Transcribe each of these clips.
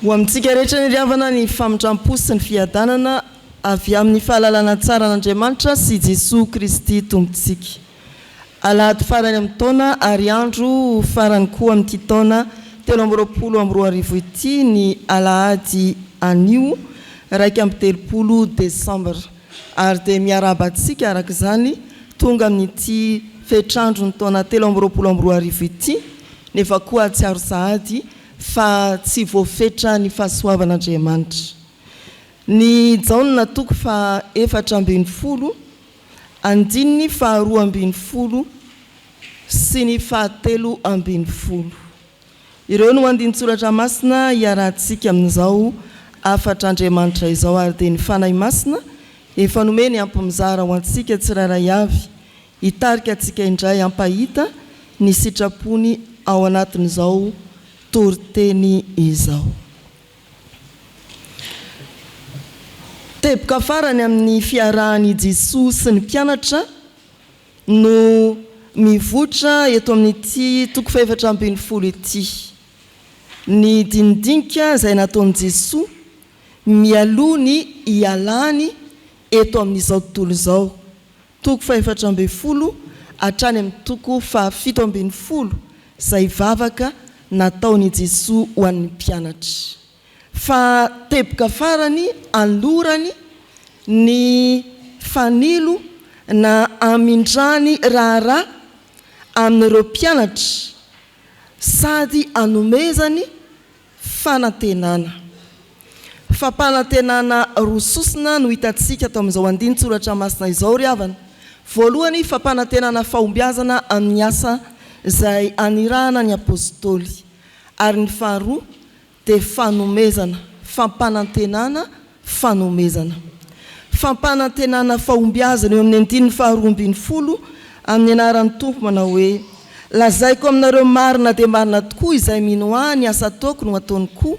Ho amintsika rehetra niravana ny famindrampo sy ny fiadanana avy amin'ny fahalalana tsara an'Andriamanitra sy Jesoa Kristy Tompontsika. Alahady farany amin'ny taona ary andro farany koa amin'ity taona telo amby roapolo amby roa arivo ity ny alahady anio iraika amby telopolo desambra. Ary dia miarahaba antsika araka izany tonga amin'ity fetr'andron'ny taona telo amby roapolo amby roa arivo ity, nefa koa hahatsiaro sahady fa tsy voafetra ny fahasoavan'Andriamanitra. Ny Jaona toko fahaefatra ambin'ny folo andininy faharoa ambin'ny folo sy ny fahatelo ambin'ny folo. Ireo no andinin-tsoratra masina iarahantsika amin'izao hafatr'Andriamanitra izao ary dia ny Fanahy Masina efa nomeny ampy mizara ho antsika tsirairay avy hitarika antsika indray hampahita ny sitrapony ao anatin'izao toriteny izao. Teboka farany amin'ny fiarahan'i Jesoa sy ny mpianatra. no mivoitra eto amin'ity toko fahefatra ambin'ny folo ity. Ny dinidinika izay nataon'i Jesoa mialoha ny hialany eto amin'izao tontolo izao, toko fahefatra ambin'ny folo hatrany amin'ny toko fahafito ambin'ny folo, izay vavaka nataon'i Jesoa ho an'ny mpianatra. Fa teboka farany alorany ny fanilo na amindràny raharaha amin'ireo mpianatra sady anomezany fanantenana. Fampanantenana roa sosona no hitantsika ato amin'izao andinin-tsoratra masina izao ry havana. Voalohany, fampanantenana fahombiazana amin'ny asa izay anirahana ny Apostoly. Ary ny faharoa, dia fanomezana, fampanantenana, fanomezana. Fampanantenana fahombiazana eo amin'ny andininy faharoa ambin'ny folo amin'ny anaran'ny Tompo manao hoe, Lazaiko aminareo marina dia marina tokoa izay mino Ahy ny asa ataoko no ataony koa,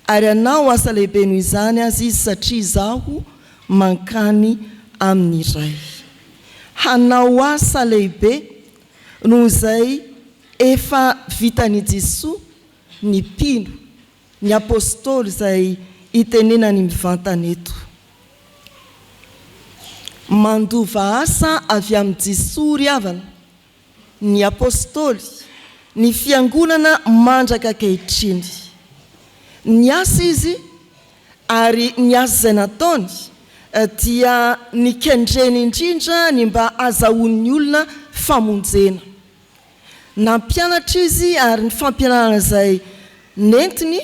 ary hanao asa lehibe noho izany aza izy satria Izaho mankany amin'ny Ray. Hanao asa lehibe noho izay efa vitan'i Jesoa ny mpino, ny apostoly izay itenenany mivantana eto. Mandova asa avy amin'i Jesoa ry havana, ny apostoly, ny fiangonana mandraka ankehitriny. Niasa izy ary ny asa izay nataony dia nikendreny indrindra ny mba hazahoan'ny olona famonjena. Nampianatra izy ary ny fampianarana izay nentiny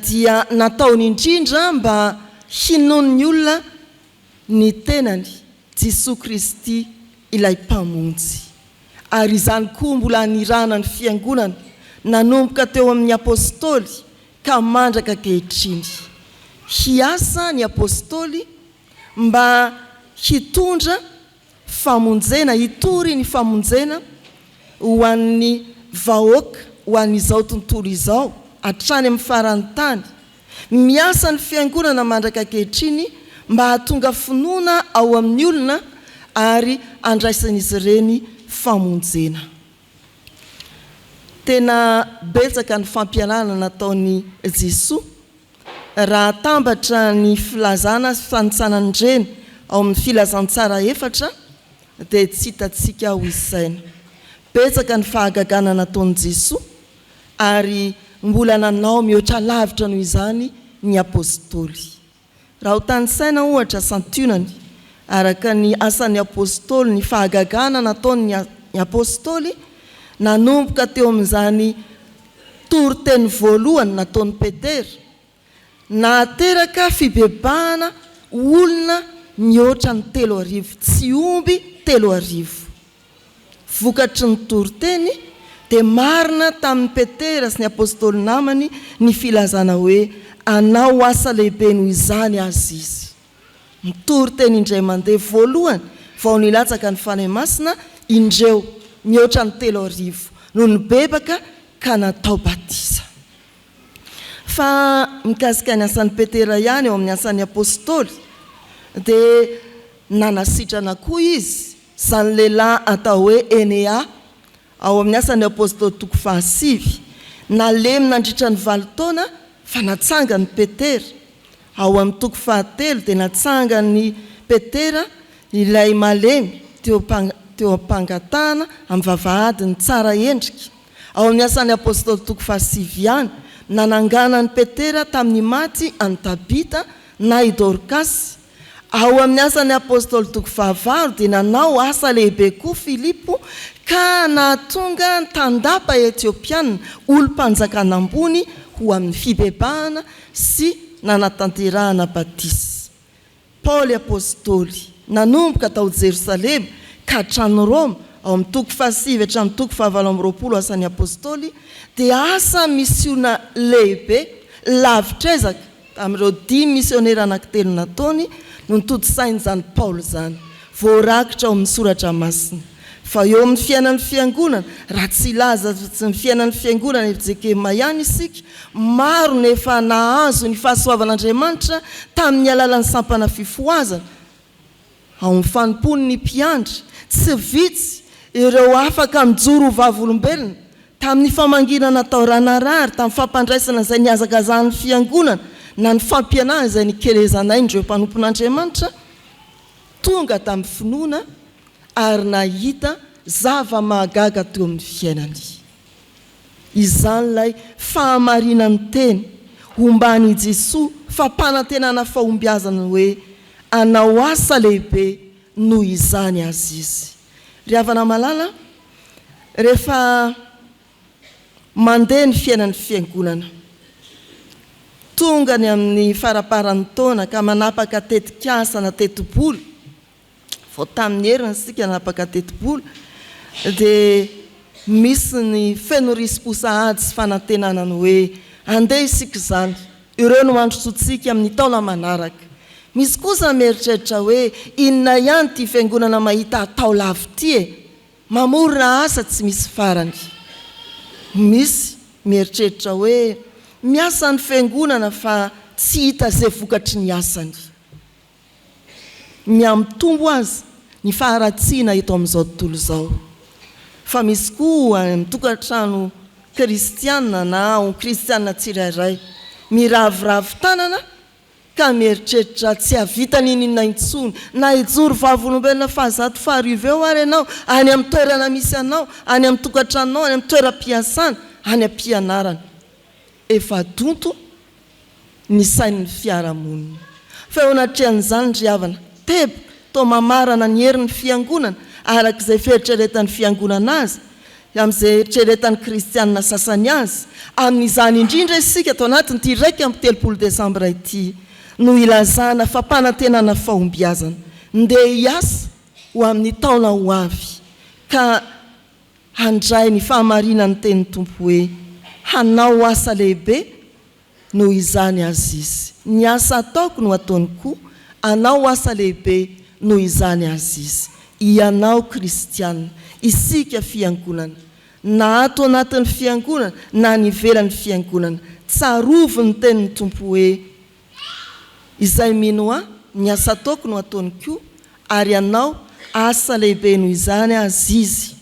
dia nataony indrindra mba hinoan'ny olona ny tenany, Jesoa Kristy ilay Mpamonjy. Ary izany koa mbola nirahana ny Fiangonana, nanomboka teo amin'ny Apôstôly ka mandraka ankehitriny. Hiasa ny Apôstôly mba hitondra Famonjena, hitory ny famonjena ho an'ny vahoaka ho an'izao tontolo izao hatrany amin'ny faran'ny tany. Miasa ny Fiangonana mandraka ankehitriny mba hahatonga finoana ao amin'ny olona ary handraisan'izy ireny famonjena. Tena betsaka ny fampianarana nataon'i Jesoa raha atambatra ny filazana sy fanintsanan'ireny ao amin'ny Filazantsara efatra dia tsy hitantsika ho isaina. Betsaka ny fahagagana nataon'i Jesoa ary mbola nanao mihoatra lavitra noho izany ny Apostoly. Raha ho tanisaina, ohatra, santionany, araka ny Asan'ny Apôstôly, ny fahagagana nataon'ny Apôstôly nanomboka teo amin'izany toriteny voalohany nataon'i Petera, nahateraka fibebahana olona mihoatra ny telo arivo, tsy omby telo arivo. Vokatry ny toriteny, dia marina tamin'i Petera sy ny apostoly namany ny filazana hoe hanao asa lehibe noho izany aza izy. Mitory teny indray mandeha voalohany vao nilatsaka ny Fanahy Masina indreo, mihoatra ny telo arivo no nibebaka ka natao batisa. Fa mikasika ny asan'i Petera ihany eo amin'ny Asan'ny Apostoly, dia nanasitrana koa izy Izany lehilahy atao hoe Enea, ao amin'ny Asan' ny Apôstôly toko fahasivy, nalemy nandritra ny valo taona fa natsangany i Petera. Ao amin'ny toko fahatelo dia natsangan' i Petera ilay malemy teo teo am-pangatahana amin'ny vavahadiny tsara endrika. Ao amin'ny Asan' ny Apôstôly toko fahasivy ihany, nananganan' i Petera tamin'ny maty an'i Tabita na i Dorkasy, Ao amin'ny Asan'ny Apôstôly toko fahavalo dia nanao asa lehibe koa Filipo ka nahatonga ny tandapa Etiopiana, olom-panjakana ambony, ho amin'ny fibebahana sy nanatanterahana batisa. Paoly Apôstôly, nanomboka tao Jerosalema ka hatrany Roma, ao amin'ny toko fahasivy hatramin'ny toko fahavalo amby roapolo Asan'ny Apôstôly, dia asa misiona lehibe, lavitr'ezaka, Tamin'ireo dimy misionera anankitelo nataony no notontosainy izany Paoly izany, voarakitra ao amin'ny Soratra Masina, fa eo amin'ny fiainan'ny Fiangonana, raha tsy hilaza azy fa tsy ny fiainan'ny Fiangonana eto Jekema ihany isika, maro no efa nahazo ny fahasoavan'Andriamanitra tamin'ny alalan'ny sampana fifohazana, Ao amin'ny fanompoan'ny mpiandry, tsy vitsy ireo afaka nijoro ho vavolombelona tamin'ny famanginana tao Ranarary, tamin'ny fampandraisana izay nihazakazahan'ny Fiangonana na ny fampianarana izay nikelezanain'ireo mpanompon'Andriamanitra tonga tamin'ny finoana ary nahita zava-mahagaga teo amin'ny fiainany. Izany ilay fahamarinan'ny teny omban' i Jesoa fampanantenana fahombiazana hoe anao asa lehibe noho izany aza izy. Ry havana malala a, rehefa mandeha ny fiainan'ny Fiangonana, tonga ny amin'ny faraparan'ny taona ka manapaka tetikasa na tetibola, Vao tamin'ny heriny isika nanapaka tetibola dia misy ny feno risi-po sahady sy fanantenana ny hoe andeha isika izany, ireo no handrosoantsika amin'ny taona manaraka. Misy kosa mieritreritra hoe inona ihany ity fiangonana mahita atao lava ity e? Mamorona asa tsy misy farany. Misy mieritreritra hoe miasa ny fiangonana fa tsy hita izay vokatry ny asany. Mihamitombo aza ny faharatsiana eto amin'izao tontolo izao, fa misy koa ny tokantrano kristiana na ny kristiana tsirairay miraviravy tanana ka mieritreritra tsy hahavita n'inon'inona intsony, na hijoro vavolombelona fahazato faharivo eo ary ianao, any amin'ny toerana misy anao, any amin'ny tokantranonao, any amin'ny toeram-piasana, any am-pianarana. Efa donto ny sain'ny fiarahamonina. Fa eo anatrehan'izany ry havana, teboka, toa mamarana ny herin'ny Fiangonana araka izay fieritreretan'ny Fiangonana azy, amin'izay eritreretan'ny kristiana sasany azy, amin'izany indrindra isika tao anatin'ity iraika amby telopolo desambra ity no hilazana fampanantenana fahombiazana, ndeha hiasa ho amin'ny taona ho avy ka. Handray ny fahamarinan'ny tenin'ny Tompo hoe, Hanao asa lehibe noho izany Azizy. Ny asa ataoko no ataony koa, hanao asa lehibe noho izany Azizy. Ianao kristiana, isika fiangonana, na ato anatin'ny fiangonana na any ivelan'ny fiangonana, tsarovy ny tenin'ny Tompo hoe, Izay mino Ahy, ny asa ataoko no ataony koa, ary hanao asa lehibe noho izany aza izy,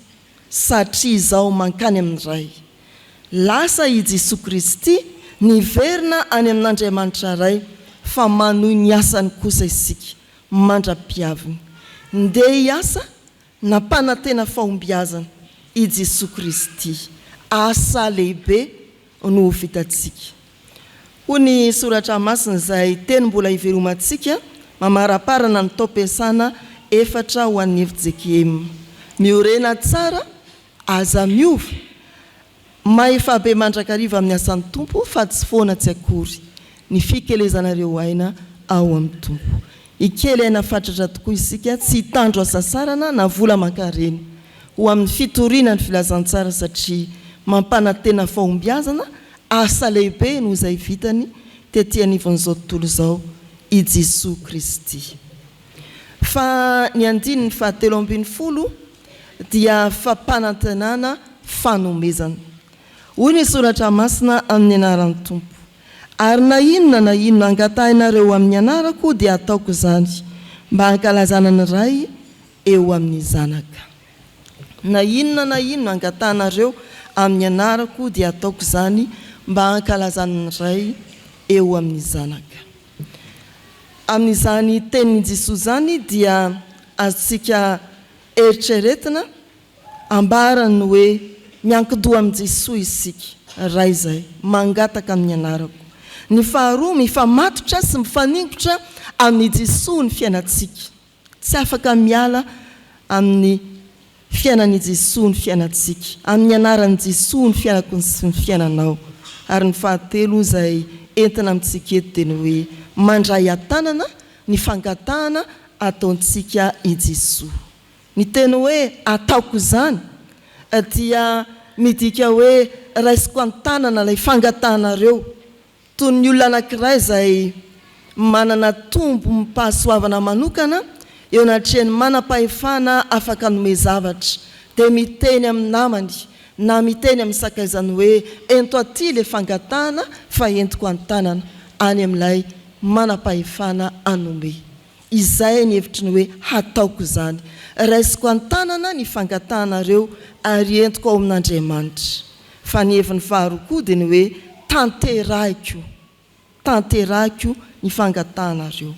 satria Izaho mankany amin'ny Ray. Lasa i Jesoa Kristy niverina any amin'Andriamanitra Ray, fa manohy ny asany kosa isika, mandra-pihaviny. Ndeha hiasa, Nampanantena fahombiazana i Jesoa Kristy, asa lehibe no ho vitantsika. Hoy ny Soratra Masina izay teny mbola hivelomantsika mamaraparana ny taom-piasana efatra ho an'ny FJKM, Miorena tsara Aza miova. Mahefa be mandrakariva amin'ny asan'ny Tompo fa tsy foana tsy akory ny fikelezana ireo aina ao amin'ny Tompo. Hikely aina fatratra tokoa isika, tsy hitandro hasasarana na vola aman-karena, ho amin'ny fitoriana ny filazantsara satria mampanantena fahombiazana, asa lehibe noho izay vitany tety anivon'izao tontolo izao i Jesoa Kristy. Fa ny andininy fahatelo ambin'ny folo dia fampanantenana fanomezana. Hoy ny soratra masina amin'ny anaran'ny Tompo, Ary na inona na inona angatahinareo amin'ny anarako dia ataoko izany, mba hankalazana ny Ray eo amin'ny Zanaka. Na inona na inona angatahinareo amin'ny anarako dia ataoko izany, mba hankalazana ny Ray eo amin'ny Zanaka. Amin'izany tenin'i Jesoa izany dia azontsika eritreretina ambarany hoe miankin-doha amin'i Jesoa isika, Ray izay mangataka amin'ny anarako. Ny faharoa, mifamatotra sy mifaningotra amin'i Jesoa ny fiainantsika. Tsy afaka miala amin'ny fiainan'i Jesoa ny fiainantsika, amin'ny anaran'i Jesoa ny fiainako sy ny fiainanao. Ary ny fahatelo izay entina amintsika eto dia ny hoe mandray an-tanana ny fangatahana ataontsika i Jesoa. Ny teny hoe ataoko izany dia midika hoe raisiko an-tanana ilay fangatahanareo. Toy ny olona anankiray izay manana tombom-pahasoavana manokana eo anatrehan'ny manam-pahefana afaka hanome zavatra, dia miteny amin'ny namany na miteny amin'ny sakaizany hoe, Ento aty ilay fangatahana fa entiko an-tanana, any amin'ilay manam-pahefana hanome. Izay ny hevitry ny hoe hataoko izany. Raisiko an-tanana ny fangatahanareo ary entiko ao amin'Andriamanitra. Fa ny heviny faharoa koa dia ny hoe tanterahiko, tanterahiko ny fangatahanareo.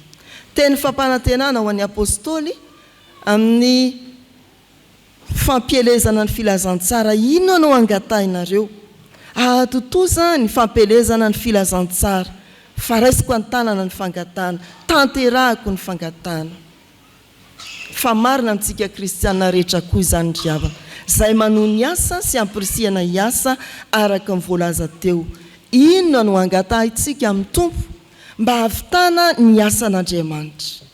Teny fampanantenana ho an'ny Apostoly amin'ny Fampielezana ny filazantsara inona no angatahinareo? Ahatontosa ny fampielezana ny filazantsara fa raisiko an-tanana ny fangatahana, tanterahako ny fangatahana. Fa marina amintsika kristiana rehetra koa izany ry havana, izay manohy ny asa sy ampirisihana hiasa araka ny voalaza teo. Inona no angatahintsika amin'ny Tompo mba hahavitana ny asan'Andriamanitra?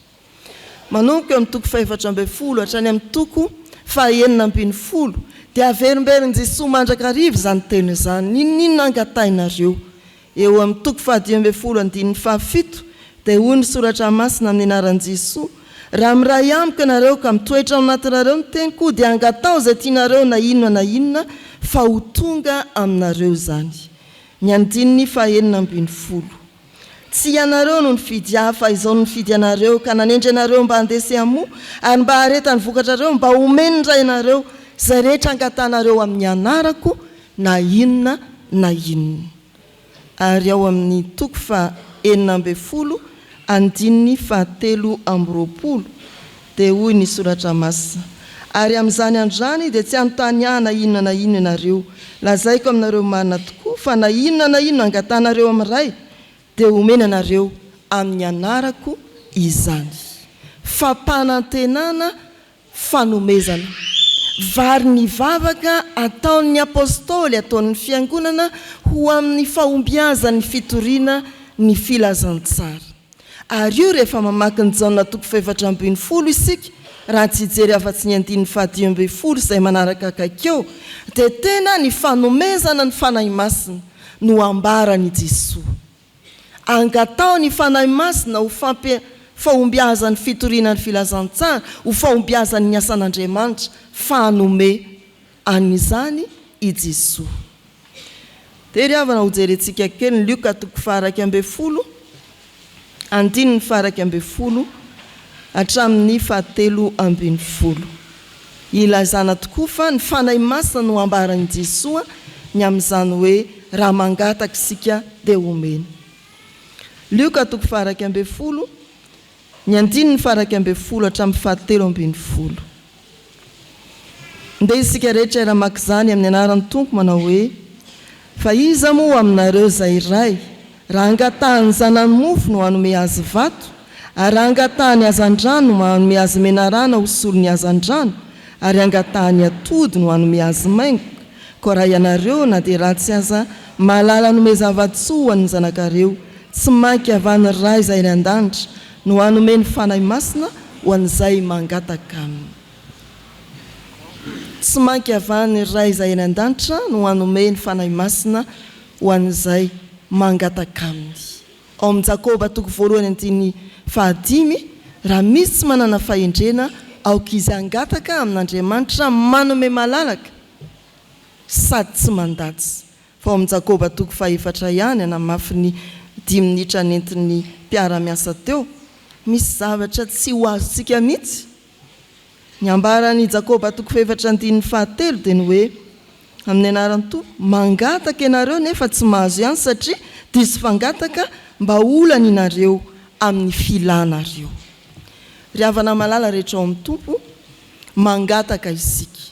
Manomboka eo amin'ny toko fahefatra ambin'ny folo hatrany amin'ny toko fahenina ambin'ny folo dia averimberin'i Jesoa mandrakariva izany teny izany, N'inon'inona angatahinareo? Eo amin'ny toko fahadimy ambin'ny folo andininy fahafito dia hoy ny Soratra Masina amin'ny anaran'i Jesoa, Raha miray amiko ianareo ka mitoetra ao anatinareo ny teniko dia angataho izay tianareo na inona na inona fa ho tonga aminareo izany. Ny andininy fahenina ambin'ny folo. Tsy ianareo no nifidy ahy fa izao no nifidy anareo ka nanendry anareo mba handeha sy hamoa ary mba hahareta ny vokatrareo mba homeny ny Rainareo izay rehetra angatanareo amin'ny anarako na inona na inona. Ary ao amin'ny toko faha enina ambin'ny folo andininy fahatelo amby roapolo, Dia hoy ny Soratra Masina, Ary amin'izany andro izany dia tsy hanontany ahy na inona na inona ianareo. Lazaiko aminareo marina tokoa fa na inona na inona angatanareo amin'ny Ray dia homeny anareo amin'ny anarako izany. Fampanantenana, fanomezana. Vary ny vavaka ataon'ny Apostoly ataon'ny Fiangonana ho amin'ny fahombiazan'ny fitoriana ny Filazantsara. Ary io rehefa mamaky ny Jaona toko fahefatra ambin'ny folo isika, raha tsy hijery afa-tsy ny andininy fahadimy ambin'ny folo izay manaraka akaiky eo, dia tena ny fanomezana ny Fanahy Masina no ambaran' i Jesoa. Angataho ny Fanahy Masina ho fampi fahombiazan' ny fitoriana ny Filazantsara, ho fahombiazan' ny asan' Andriamanitra, fanome An' izany i Jesoa. Dia ry havana hojerentsika kely ny Lioka toko faha-iraika ambin'ny folo andininy faha-iraika ambin'ny folo hatramin' ny fahatelo ambin'ny folo. Ilazana tokoa fa ny Fanahy Masina no ambaran' i Jesoa ny amin' izany hoe raha mangataka isika dia homeny. Lioka toko faha-iraika ambin'ny folo. Ny andininy faharaika ambin'ny folo hatramin'ny fahatelo ambin'ny folo. Ndeha isika rehetra hiara-maka izany amin'ny anaran'ny Tompo manao hoe, Fa iza moa aminareo izay iray, raha angatahany zanany mofo no hanome azy vato? Ary raha angatahany hazandrano no hanome azy menarana ho solon'ny hazandrano? Ary angatahany atody no hanome azy maingoka? Koa raha ianareo na dia ratsy aza Mahalala hanome zava-tsoa ho an'ny zanakareo, tsy mainka avy any Ray izay any an-danitra no hanome ny Fanahy Masina ho an'izay mangataka Aminy. Tsy mainka avy any Ray izay any an-danitra no hanome ny Fanahy Masina ho an'izay mangataka Aminy. Ao amin'ny Jakoba toko voalohany andininy fahadimy, Raha misy tsy manana fahendrena, aoka izy hangataka amin'Andriamanitra manome malalaka, sady tsy mandatsy fa ao amin'ny Jakoba toko fahefatra ihany hanamafy ny dimy minitra nentin'ny mpiara-miasa teo, misy zavatra tsy ho azontsika mihitsy. Ny ambaran'i Jakoba toko fahefatra andininy fahatelo dia ny hoe, Amin'ny anaran'i Tompo, mangataka ianareo nefa tsy mahazo ihany satria diso fangataka mba olaninareo amin'ny filanareo. Ry havana malala rehetra ao amin'ny Tompo, mangataka isika.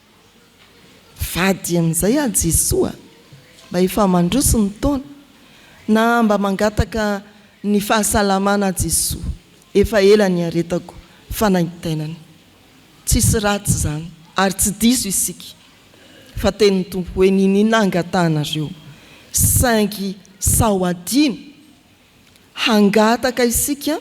Vady amin'izay aho Jesoa mba efa mandroso ny taona Na mba mangataka ny fahasalamana aho Jesoa efa ela niaretako fanaintainana Tsisy ratsy izany ary tsy diso isika Fa tenin'ny Tompo hoe niniana angatahanareo Saingy sao hadino Hangataka isika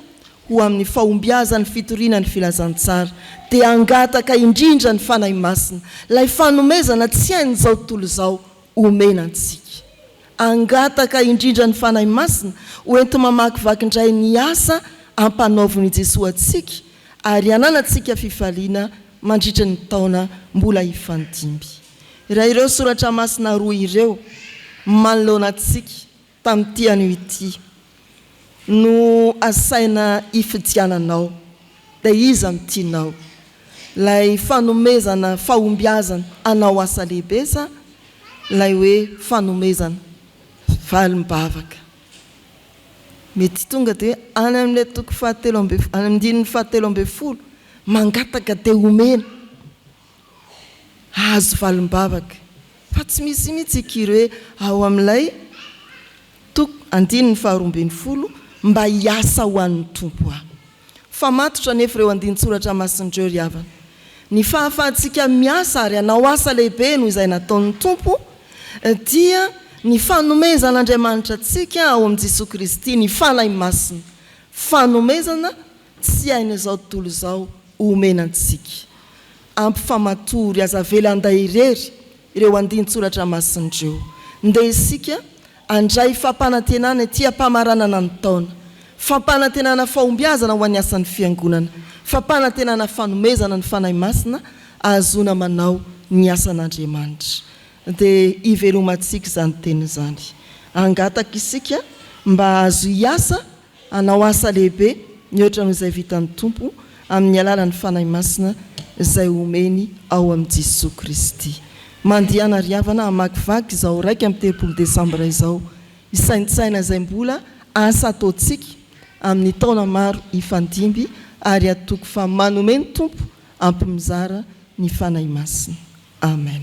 ho amin'ny fahombiazan'ny fitoriana ny filazantsara, dia hangataka indrindra ny Fanahy Masina, ilay fanomezana tsy hain'izao tontolo izao, omena antsika. Hangataka indrindra ny Fanahy Masina ho enti-mamakivaky indray ny asa ampanaovin'i Jesoa antsika ary hananantsika fifaliana mandritra ny taona mbola hifandimby. Raha ireo soratra masina roa ireo manoloana antsika, Tamin'ity anio ity no asaina ifidiananao. Dia iza no tianao? Ilay fanomezana fahombiazana hanao asa lehibe sa ilay hoe fanomezana valim-bavaka? Mety tonga dia any amin'ilay toko fahatelo ambin'ny, any amin'ny andininy fahatelo ambin'ny folo, mangataka dia omena. Azo valim-bavaka fa tsy misy mihitsy i Curé ao amin'ilay toko andininy faharoa ambin'ny folo mba hiasa ho an'ny Tompo aho. Fa matotra anefa ireo andinin-tsoratra masin'ireo ry havana. Ny fahafahantsika miasa ary hanao asa lehibe noho izay nataon'ny Tompo dia ny fanomezan'Andriamanitra antsika ao amin'i Jesoa Kristy ny Fanahy Masina, fanomezana Tsy hainy izao tontolo izao omena antsika. Ampy fa matory, aza avela handay irery ireo andinin-tsoratra masina ireo. Ndeha isika handray fampanantenana ety am-pamaranana ny taona. Fampanantenana fahombiazana ho an'ny asan'ny Fiangonana. Fampanantenana fanomezana ny Fanahy Masina ahazoana manao ny asan'Andriamanitra. Dia hivelomantsika izany teniny izany. Hangataka isika mba hahazo hiasa Hanao asa lehibe mihoatra noho izay vitan'ny Tompo amin'ny alalan'ny Fanahy Masina izay omeny ao amin'i Jesoa Kristy. Mandehana ry havana hamakivaky izao iraika amby telopolo desambra izao, hisaintsaina izay mbola asa ataontsika amin'ny taona maro hifandimby ary hatoky fa manome ny Tompo ampy mizara ny Fanahy Masina. Amen.